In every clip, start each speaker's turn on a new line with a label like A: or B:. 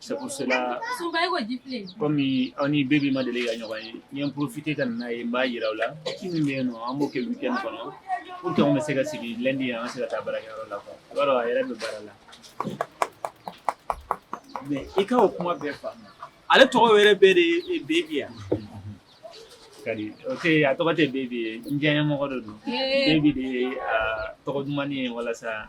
A: Sela kɔmi aw ni bebi ma deli ka ɲɔgɔn ye n ye porofite ka na n'a ye n b'a jira aw la ci min bɛ nɔ an b'o kɛ kɛ kɔnɔ u tɔgɔ bɛ se ka sigi lɛndi ye an sera ka taa baara yɔrɔ la yɔrɔ a yɛrɛ bɛ baara la mɛ i ka o kuma bɛɛ fa ale tɔgɔ yɛrɛ bɛɛ de ye bebi ye kari o a tɔgɔ tɛ bebi ye n diya mɔgɔ dɔ don bebi de ye tɔgɔ dumanuma ye walasa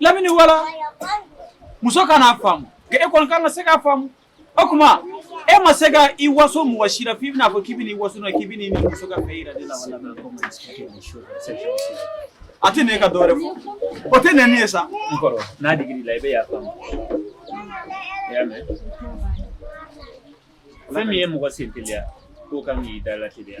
A: lamini wala muso kan'a faamu e kɔni ka kan ka se k'a faamu o tuma e ma se ka i waso mɔgɔ si la f'i bɛn'a fɔ k'i bɛ waso k'i bɛ nin muso ka fɛ jira de la a tɛ ne ka dɔwɛrɛ fɔ o tɛ ne ye sa n'a digi la i bɛ y'a faamu fɛn min ye mɔgɔ sen teliya k'o kan k'i da lateliya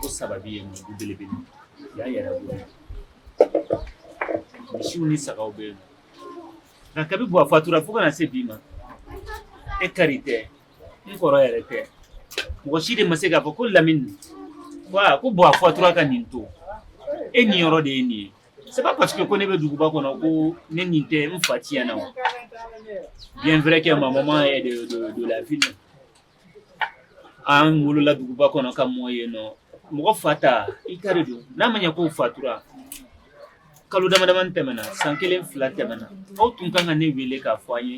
A: ko saba ye du belebele yan yɛrɛ misiw ni saga bɛ yen nka kabi buwa fatura fo ka na se bi ma e kari tɛ n kɔrɔ yɛrɛ tɛ mɔgɔ si de ma se k'a fɔ ko lamini wa ko buwa fatura ka nin to e niyɔrɔ de ye nin ye c'est pas parce que ko ne bɛ duguba kɔnɔ ko ne ni tɛ n fa tiɲɛ na wa bien vrai que ma ma de la An wolola duguba kɔnɔ ka mɔ yen nɔ mɔgɔ fa ta i ka don n'a ma ɲɛ ko fatura kalo damadama tɛmɛna san kelen fila tɛmɛna aw tun kan ka ne weele k'a fɔ n ye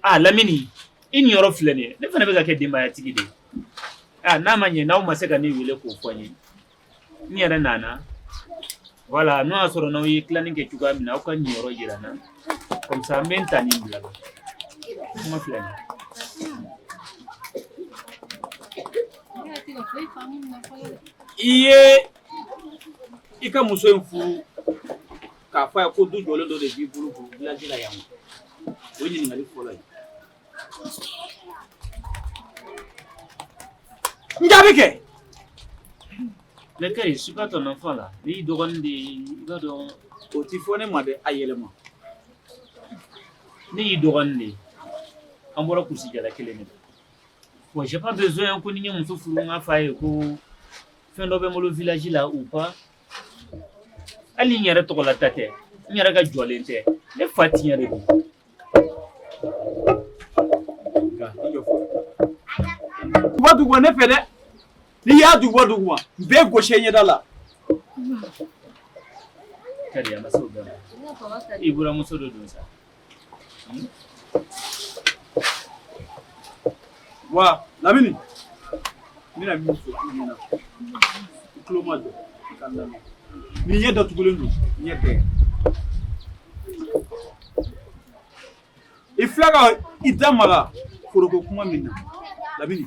A: a lamini i niyɔrɔ filɛ nin ne fana bɛ ka kɛ denbayatigi de ye n'a ma ɲɛ n'aw ma se ka ne weele k'o fɔ n ye n yɛrɛ nana voilà n'o y'a sɔrɔ n'aw ye tilanni kɛ cogoya min na aw ka n niyɔrɔ yira n na comme ça n bɛ n ta nin bila la kuma filɛ nin i ye i ka muso in furu k'a fɔ a ye ko du jɔlen dɔ de b'i bolo ko village la yan o ye ɲininkali fɔlɔ ye N jaabi kɛ ne ka ɲi suka tɔ nɔfɔ la ne y'i dɔgɔnin de ye i b'a dɔn o tɛ fɔ ne ma dɛ a yɛlɛma ne y'i dɔgɔnin de ye an bɔra kurusi jala kelen de la bon j'ai pas besoin ko ni n ye muso furu n k'a fɔ a ye ko fɛn dɔ bɛ n bolo village la ou pas hali n yɛrɛ tɔgɔla ta tɛ n yɛrɛ ka jɔlen tɛ ne fa tiɲɛ de don duguba duguba ne fɛ dɛ n'i y'a duguba duguba n b'i gosi i ɲɛda la kari a ma se o bɛɛ ma i buranmuso de don sa Wa Lamini, ni n ni ɲɛ datugulen don ɲɛ tɛ i filɛ ka i da maga foro ko kuma min na Lamini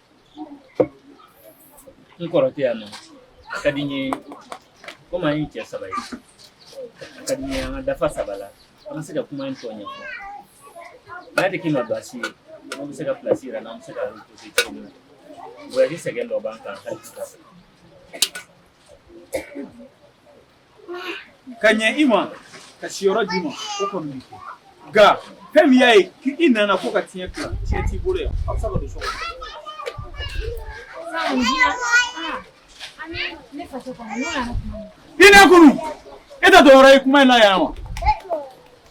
A: n kɔrɔ tɛ yan wo a ka di n ye komi an ye cɛ saba ye a ka di n ye an ka dafa saba la an ka se ka kuma in tɔ ɲɛfɔ n'a tɛ k'i ma baasi ye i bɛ se ka pilasi yira an na an bɛ se ka reposer cogo min na voyage sɛgɛn dɔ b'an kan hali sisan ka ɲɛ i ma ka siyɔrɔ d'i ma o kɔni bɛ kɛ nka fɛn min y'a ye k'i nana ko ka tiɲɛ tila tiɲɛ t'i bolo yan a bɛ se ka don so kɔnɔ. i ne kunu e tɛ dɔwɛrɛ ye kuma in na yan wa.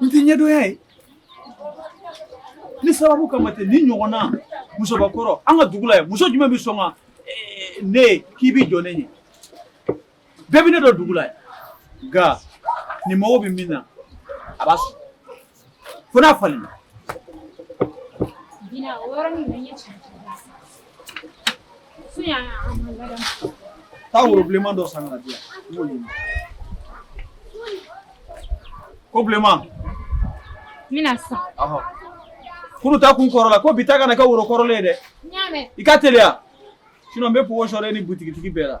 A: N tɛ ne dɔgɔya ye ni sababu kama tɛ nin ɲɔgɔn na musobakɔrɔ an ka dugu la yan muso jumɛn bɛ sɔn ka eh, ne k'i bɛ jɔ ne ɲɛ bɛɛ bɛ ne dɔn dugu la yan nka ni n mago bɛ min na a b'a sɔrɔ fo n'a falenna. Bina o yɔrɔnin na n ye cɛn cɛn da san. Fo yan a ma ladamu. Taa woro bilenman dɔ san ka na di yan n b'o ɲimi. Ko bilenman. N bɛna san. Ɔhɔ. Kunu ta tun kɔrɔla ko bi ta kana kɛ woro kɔrɔlen ye dɛ. N y'a mɛn. I ka teliya sinon n bɛ pogo sɔrɔ e ni butigitigi bɛɛ la.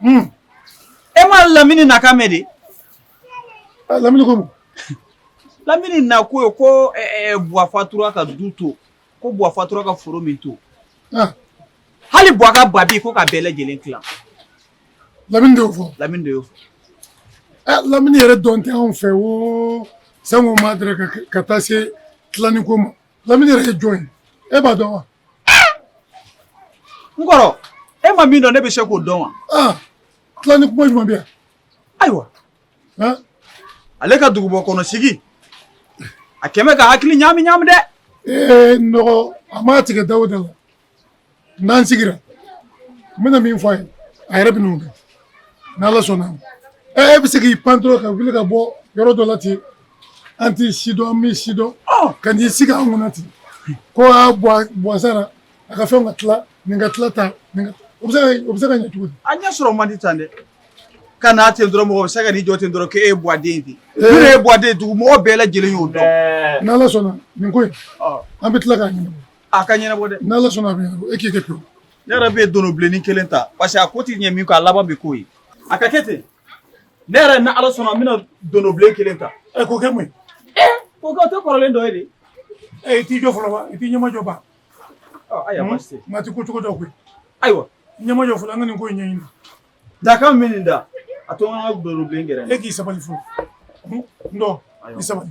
A: Hmm. E ma lamini na kan mɛn dɛ ah, lamini ko lamini na ko ye ko eh, eh, buwa fatura ka du to ko buwa fatura ka foro min to ah. hali buwa ka babi ko ka bɛɛ lajɛlen tila lamini de y'o fɔ lamini de y'o fɔ ah, lamini yɛrɛ dɔn tɛ anw fɛ wo sango ma dɛrɛ ka taa se tilanni ko ma lamini yɛrɛ ye jɔn ye e b'a dɔn wa n kɔrɔ e ma min dɔn ne bɛ se k'o dɔn wa. Ah, tilanni kuma jumɛn bɛ yan. ayiwa ah. ale ka dugubɔ kɔnɔ sigi a kɛmɛ ka hakili ɲaami ɲaami dɛ. ee eh, n dɔgɔ a m'a tigɛ da o da la n'an sigira n bɛna min fɔ a ye a yɛrɛ bɛn'o kɛ n'ala sɔnna ɛ eh, e bɛ se k'i pan dɔrɔn ka wuli ka bɔ yɔrɔ dɔ la ten an t'i sidɔn an m'i sidɔn ka n'i sigi an kunna ten ko a buwa sara a ka fɛn ka tila nin ka tila ta o bɛ se ka ɲɛ cogo di an ɲɛ sɔrɔ man di tan dɛ ka n'a ten dɔrɔn mɔgɔ bɛ se ka n'i jɔ ten dɔrɔn k'e ye buwa den ten ne eh. ye buwa den dugu mɔgɔ bɛɛ lajɛlen y'o dɔn eh. n'ala sɔnna nin ko in an bɛ tila k'a ɲɛnabɔ a ka ɲɛnabɔ dɛ n'ala sɔnna a bɛ ɲɛnabɔ e k'i kɛ pewu ne yɛrɛ bɛ dono bilenni kelen ta parce que a ko tɛ ɲɛ min kɔ a laban bɛ k'o ye a ka kɛ ten ne yɛrɛ ni ala sɔnna n bɛna donobilen kelen ta ɛ k'o kɛ mun ye k'o kɛ o tɛ kɔrɔlen dɔ ye de ɛ i t'i jɔ fɔlɔ ba i t'i ɲɛmajɔ ba ayiwa baasi tɛ maa ti ko cogo dɔn koyi ayiwa i ɲɛmajɔ fɔlɔ an ka nin ko in ɲɛɲini dakan min nin da a to an ka donobilen gɛrɛ e k'i sabali fɔlɔ n dɔgɔ i sabali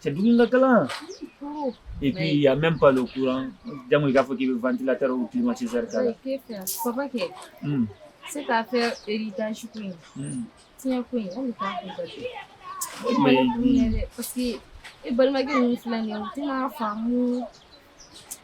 A: C'est dugu ka kalan et puis il y a même pas le courant jango i k'a fɔ k'i bɛ ventilateur ou climatiseur k'a la papa kɛ hmm. se k'a fɛ héritage ko in tiɲɛ ko in hali k'a ko ka kɛ mais parce que e balimakɛ ninnu filɛ nin ye u tɛna faamu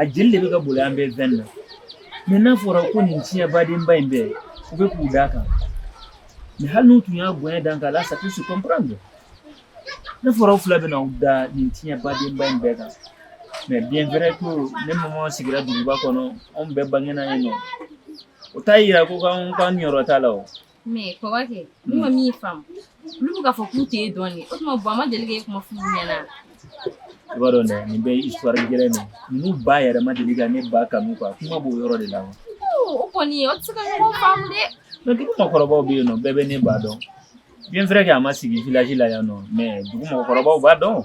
A: a jeli de bɛ ka boli an bɛɛ veine na mais n'a fɔra ko nin tiɲɛbadenba in bɛɛ u bɛ k'u d'a kan mais hali n'u tun y'a bonya dan k'a la sa su comprendre n'a fɔra u fila bɛna u da nin tiɲɛbadenba in bɛɛ kan mais bien vrai ko ne mama sigira duguba kɔnɔ anw bɛɛ bangena yen nɔ o t'a yira ko k'an k'an niyɔrɔ t'a la o mais kɔrɔkɛ ne ma min faamu olu bɛ k'a fɔ k'u t'e dɔn o tuma buwa ma deli k'e kuma fɔ u ɲɛna i b'a dɔn dɛ nin bɛ histoire gɛlɛn de ninnu ba yɛrɛ ma deli ka ne ba kanu quoi kuma b'o yɔrɔ de la o kɔni u tɛ se ka ɲɔgɔn faamu dɛ mais dugu mɔgɔkɔrɔbaw bɛ yen nɔ bɛɛ bɛ ne ba dɔn bien vrai que a ma sigi village la yan nɔ mais dugu mɔgɔkɔrɔbaw b'a dɔn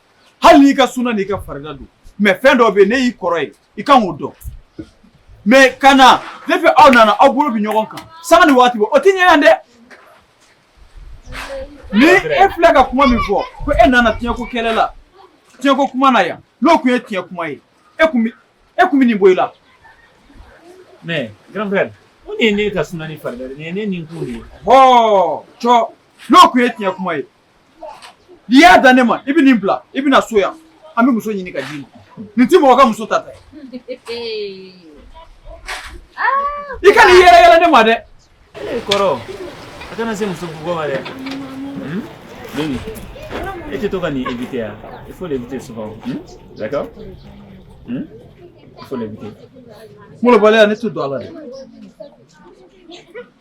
A: hali n'i ka suna n'i ka farida don mais fɛn dɔ bɛ yen ne y'i kɔrɔ ye i kan k'o dɔn mais ka na depuis aw nana aw bolo bɛ ɲɔgɔn kan sanga ni waati bɛɛ o tɛ ɲɛ yan dɛ ni e filɛ ka kuma min fɔ ko e nana tiɲɛko kɛlɛ la tiɲɛko kuma na yan n'o tun ye tiɲɛ kuma ye e tun bɛ e tun bɛ nin bɔ i la. mais grand frère mun de ye ne ka suna ni farida de ye nin ye ne nakun de ye. hɔɔ cɔ n'o tun ye tiɲɛ kuma ye n'i y'a dan ne ma i bɛ nin bila i bɛ na so yan an bɛ muso ɲini ka d'i ma nin tɛ mɔgɔ ka muso ta ta ye i kana i yɛrɛ yɛlɛ ne ma dɛ. ee kɔrɔ a kana se muso bugɔ ma dɛ. Denis, e tɛ to ka nin éviter yan il faut l'éviter souvent d'accord il faut l'éviter. Malobaliya ne tɛ don a la dɛ.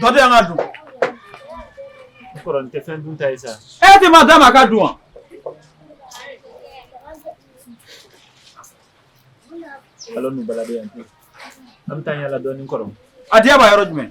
A: Dɔ di yan ka dun. N kɔrɔ nin tɛ fɛn dun ta ye sa. E tɛ ma d'a ma a ka dun wa? Allons nous balader yan. An bɛ taa yaala dɔɔni n kɔrɔ. A diya b'a yɔrɔ jumɛn?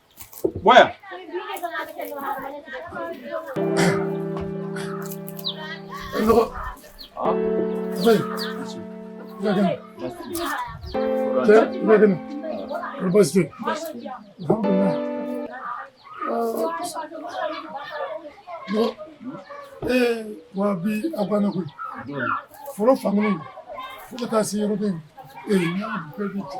A: Waya. Ee, wa bi a banna koyi fɔlɔ fankelen fo ka taa se yɔrɔ bɛ yen ee n'a bɛɛ bɛ jɔ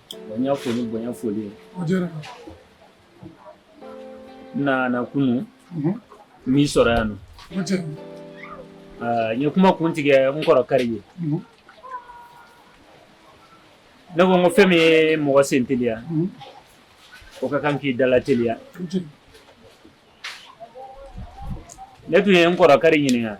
A: Bonya foli bonya foli n nana kunun mhm. n m'i sɔrɔ yan nɔ n ye kuma kun tigɛ n kɔrɔ kari ye mhm. ne ko n ko fɛn min ye mɔgɔ sen teliya mhm. o ka kan k'i da lateliya ne tun ye n kɔrɔ kari ɲininka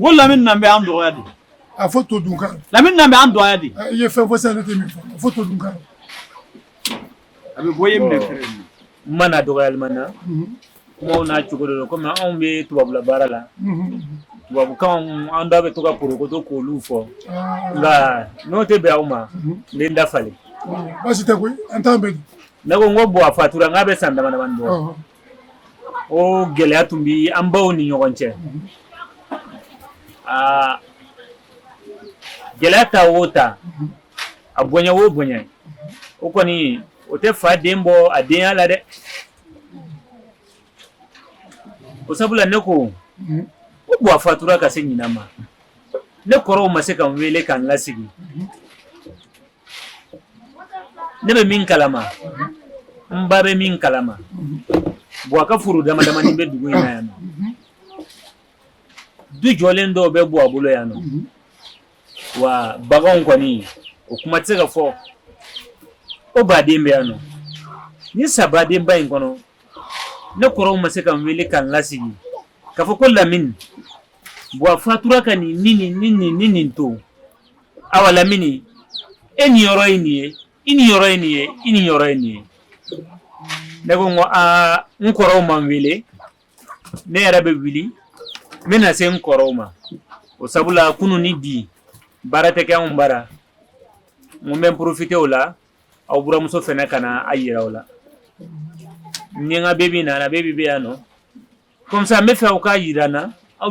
A: Ko lamini na bɛ an dɔgɔya de a fɔ to dun lamini na bɛ an dɔgɔya de i ye fɛn fɔ sa ne tɛ min a fɔ to dun a bɛ bɔ ye minɛ fɛ ma na dɔgɔyali ma na maaw n'a cogo don kɔmi anw bɛ tubabula baara la tubabukan an da bɛ to ka porokoto k'olu fɔ nka n'o tɛ bɛn aw ma n dafalen baasi tɛ an' bɛ ne ko n ko buwa fatura n'a bɛ san dama dɔɔnin o gɛlɛya tun bɛ an baw ni ɲɔgɔn cɛ aa gɛlɛya ta o ta a bonya o bonya o kɔni o tɛ fa den bɔ a denya la dɛ o sabula ne ko ko buwa fatura ka se ɲinan ma ne kɔrɔw ma se ka n wele ka n lasigi ne bɛ min kalama n ba bɛ min kalama buwa ka foro dama damanin bɛ dugu in na yan nɔ du jɔlen dɔw bɛ buwa bolo yan nɔ wa baganw kɔni o kuma tɛ se ka fɔ o baden bɛ yan nɔ ni sabadenba in kɔnɔ ne kɔrɔw ma se ka n wele ka n lasigi k'a fɔ ko lamini buwa fatura ka nin ni nin ni nin ni nin to awa lamini e niyɔrɔ ye nin ye i niyɔrɔ ye nin ye i niyɔrɔ ye nin ye ne ko ko aa n kɔrɔw ma n wele ne yɛrɛ bɛ wuli n bɛna se n kɔrɔw ma o sabula kunun ni bi baara tɛ kɛ anw bara n bɛ porofite o la aw buramuso fana ka na a jira aw la n ni n ka bebe nana bebe bɛ yan nɔ Kɔmisa n b'a fɛ aw k'a jira n na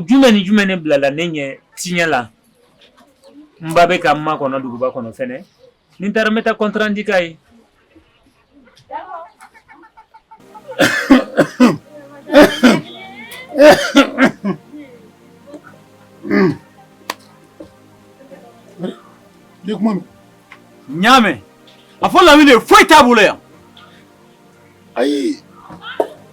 A: jumɛn ni jumɛn de bilala ne ɲɛ tiɲɛ la n ba bɛ ka n makɔnɔ duguba kɔnɔ fɛnɛ ni n taara n bɛ taa kɔntirandi k'a ye ɲa min a fɔ lamini de foyi t'a bolo yan ayi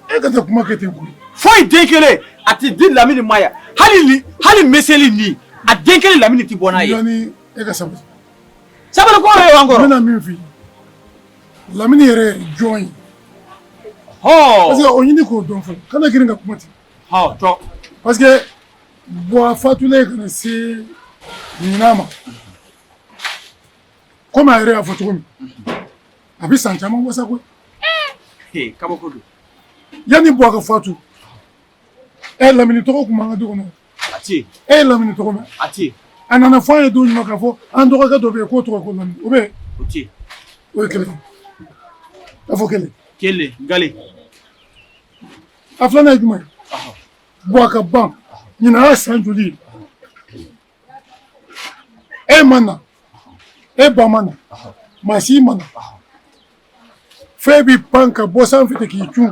A: e kana kuma kɛ ten koyi foyi den kelen a tɛ di lamini ma yan hali hali meselinin a den kelen lamini tɛ bɔ n'a ye e ka sabali sabali ko yɛrɛ y'an kɔrɔ n bɛna min f'i ye lamini yɛrɛ ye jɔn ye hɔn parce que o ɲini k'o dɔn fɔlɔ kana girin ka kuma ten hɔn tɔ parce que buwa fatulen ka na se ɲinan ma komi a yɛrɛ y'a fɔ cogo min a bɛ san caman wasa koyi ee kabako don yanni buwa ka fatu e ye lamini tɔgɔ tun b'an ka du kɔnɔ a tɛ yen e ye lamini tɔgɔ mɛn a tɛ yen a nana fɔ an ye don jumɛn k'a fɔ an dɔgɔkɛ dɔ bɛ yen k'o tɔgɔ ko lamini o bɛ yen o tɛ yen o ye kelen a fɔ kelen kelen gale a filanan ye jumɛn ye buwa ka ban ɲinan y'a san joli ye e ma na e ba ma na maa si ma na f'e bɛ pan ka bɔ sanfɛ ten k'i cun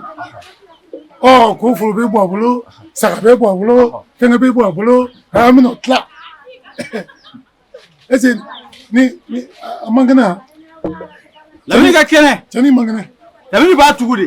A: ɔ ko foro bɛ buwa bolo saga bɛ buwa bolo fɛngɛ bɛ buwa bolo an bɛna o tila est ce que ni ni a man kɛnɛ wa lamini ka kɛnɛ cɛ nin man kɛnɛ lamini b'a tugu de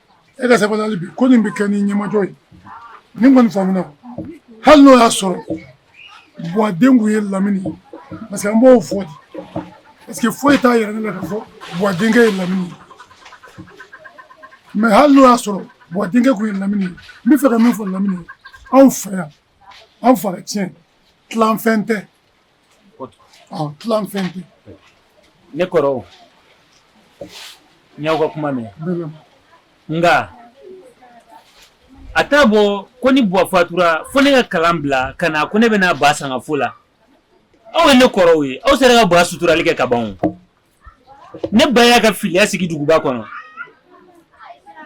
A: e ka sabali hali bi ko nin bɛ kɛ ni ɲɛmajɔ ye ni kɔni faamuna hali n'o y'a sɔrɔ buwa den tun ye lamini ye parce que an b'o fɔ de parce que foyi t'a yira ne la k'a fɔ buwa denkɛ ye lamini ye mais hali n'o y'a sɔrɔ buwa denkɛ tun ye lamini ye n bɛ fɛ ka min fɔ lamini ye anw fɛ yan anw fa tiɲɛ tilanfɛn tɛ Tila fɛn tɛ ne kɔrɔ n y'aw ka kuma mɛn nka a t'a bɔ ko ni buwa fatura fo ne ka kalan bila ka na ko ne bɛ na ba sangafo la aw ye ne kɔrɔw ye aw sera ka ba suturali kɛ ka ban ne ba y'a ka filiya sigi duguba kɔnɔ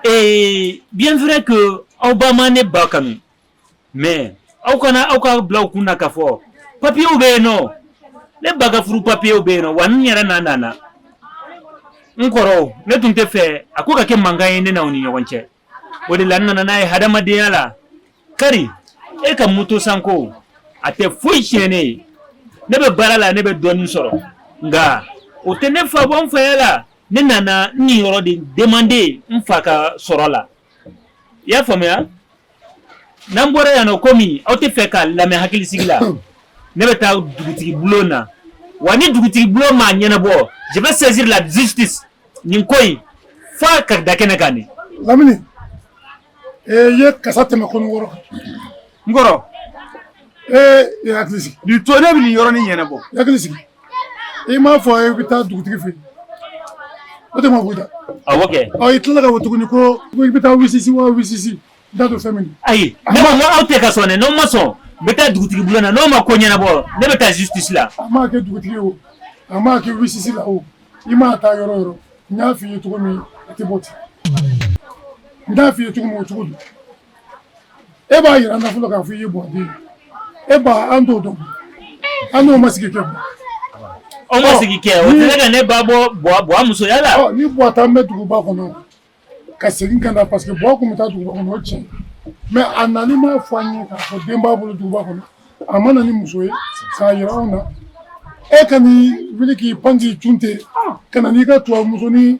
A: ee bien vrai que aw ba ma ne ba kanu mais aw kana aw k'a bil'aw kun na k'a fɔ papiyew bɛ yen nɔ ne ba ka furu papiyew bɛ yen nɔ wa n yɛrɛ na nana n kɔrɔ ne tun tɛ fɛ a ko ka kɛ mankan ye ne n'i ni ɲɔgɔn cɛ o de la n nana n'a ye hadamadenya la kari e ka moto sanko a tɛ foyi tiɲɛ ne ye ne bɛ baara la ne bɛ dɔɔnin sɔrɔ nka o tɛ ne fa bɔ n faya la ne nana n niyɔrɔ de demander n fa ka sɔrɔ la i y'a faamuya n'an bɔra yan nɔ komi aw tɛ fɛ k'a lamɛn hakilisigi la ne bɛ taa dugutigi bulon na wa ni dugutigi bulon m'a ɲɛnabɔ je vais saisir la justice nin ko in f'a ka da kɛnɛ kan de lamini ee i ye kasa tɛmɛ kɔnɔ wɔrɔ kan n kɔrɔ ee i ye hakili sigi nin to ne bɛ nin yɔrɔnin ɲɛnabɔ i hakili sigi i m'a fɔ i bɛ taa dugutigi fɛ o de ma b'i da awɔ kɛ ɔ i tilala k'a fɔ tuguni ko i bɛ taa wisisi wa wisisi n t'a dɔn fɛn min ayi ne ko n ko aw tɛ ka sɔn dɛ n'aw ma sɔn n bɛ taa dugutigi bulon na n'aw ma ko ɲɛnabɔ ne bɛ taa justice la a maa kɛ dugutigi o a maa kɛ wisisi la o i maa taa yɔrɔ yɔrɔ n y'a f'i ye cogo min a tɛ bɔ ten n y'a f'i ye cogo min o cogo don e ba jira an na fɔlɔ k'a fɔ i ye bɔ den e ba an t'o dɔn an n'o ma sigi kɛ aw ma sigi kɛ o tɛ ka ne ba bɔ bɔ musoya la ni bɔ tun bɛ duguba kɔnɔ ka segin ka na parce que bɔ tun bɛ taa duguba kɔnɔ o tiɲɛ mais a nalen m'a fɔ an ye k'a fɔ den b'a bolo duguba kɔnɔ a ma na ni muso ye k'a jira anw na e ka n'i wuli k'i pan k'i cun ten ka na n'i ka tubabu musonin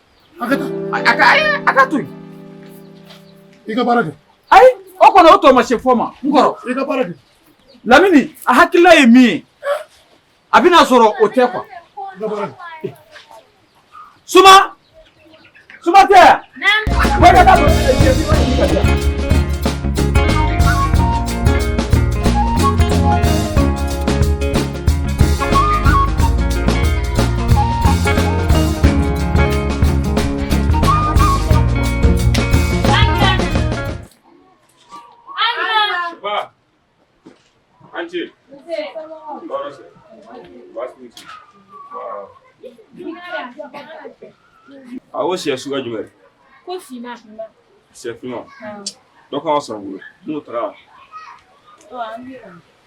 A: a ka to yen i ka baara kɛ ayi o kɔni o tɔ ma se fɔ ma n kɔrɔ i ka baara kɛ lamini a hakilila ye min ye a bɛna sɔrɔ o tɛ kuwa suma suma tɛ yan. Awo sɛ suguya jumɛn ko finman sɛ finman dɔ kan ka sɔrɔ bolo n'o taara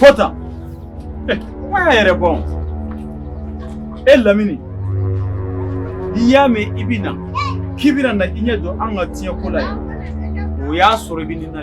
A: fɔ tan kuma y'a yɛrɛ bɔ e lamini n'i y'a mɛn i bɛ na k'i bɛna na i ɲɛ jɔ an ka tiɲɛ ko la yan o y'a sɔrɔ i bɛ nin na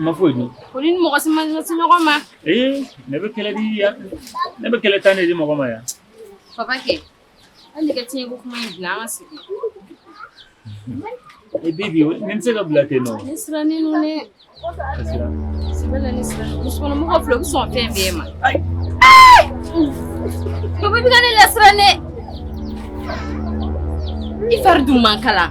A: Ma foyi dun ko ni mɔgɔ si ma ɲɛsin ɲɔgɔn ma ee ne bɛ kɛlɛ di yan ne bɛ kɛlɛ tan de di mɔgɔ ma yan papa kɛ hali ka tiɲɛ ko kuma in bila an ka segin e bibi ne bɛ se ka bila ten nɔ ne sirannen don dɛ sɛbɛ la ne sirannen musokɔnɔmɔgɔ filɛ u bɛ sɔn fɛn bɛɛ ma papa bɛ ka ne lasiran dɛ i fari dun man kalan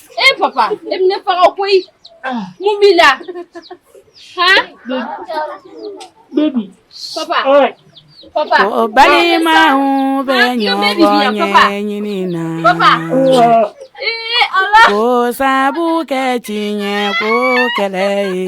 A: E papa e ne fa ko mun b'i la balimaw bɛ ɲɔgɔn ɲɛɲini na k'o sabu kɛ tiɲɛ ko kɛlɛ ye